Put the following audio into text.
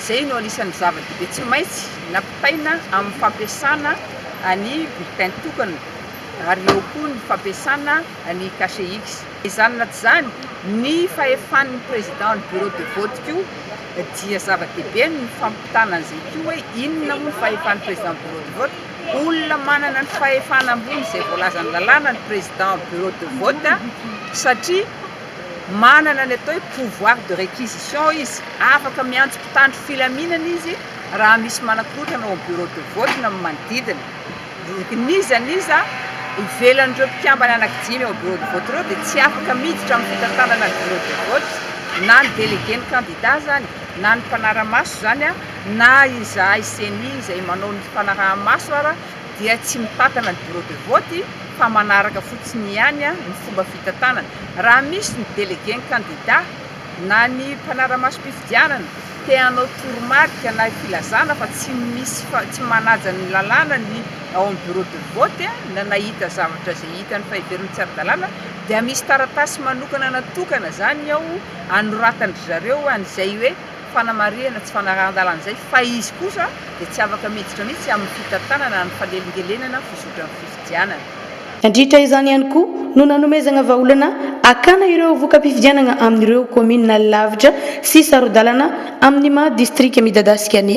Izay no anisan'ny zava-dehibe tsy maintsy nampitaina amin'ny fampiasana ny bulletin tokana ary eo koa ny fampiasana ny cachet-X. Izany na tsy izany, ny fahefan'ny président ny bureau de vote koa dia zava-dehibe ny fampitana an'izay koa hoe inona moa ny fahefan'ny président bureau de vote. Olona manana ny fahefana ambony izay voalazan'ny lalàna ny président bureau de vote satria. Manana ny atao hoe pouvoir de réquisition izy, afaka miantso mpitandro filaminana izy raha misy manakorontana ao amin'ny bureau de vote na ny manodidina. N'iza n'iza ivelan'ireo mpikambana anaky dimy ao bureau de vote ireo dia tsy afaka miditra amin'ny fitantanana ny bureau de vote, na ny délégué ny kandida izany, na ny mpanara-maso izany, na izahay ceni izay manao ny fanaraha-maso ara. dia tsy mitantana ny bureau de vote fa manaraka fotsiny ihany ny fomba fitantanana. Raha misy ny délégué ny kandida na ny mpanara-masom-pifidianana te hanao toromarika na filazana fa tsy misy fa tsy manaja ny lalàna ny ao amin'ny bureau de vote na nahita zavatra izay hitany fa heveriny tsy ara-dalàna dia misy taratasy manokana natokana izany ao anoratan'dry zareo an'izay hoe fanamarihana tsy fanarahan-dalana izay fa izy kosa dia tsy afaka miditra mihitsy amin'ny fitantanana ny fanelingelenana fizotran'ny fifidianana. Nandritra izany ihany koa no nanomezagna vahaolana hakana ireo voka-pifidianagna amin'ireo kaominina lavitra sy saro-dalana amin'ny maha distrika midadasika ny.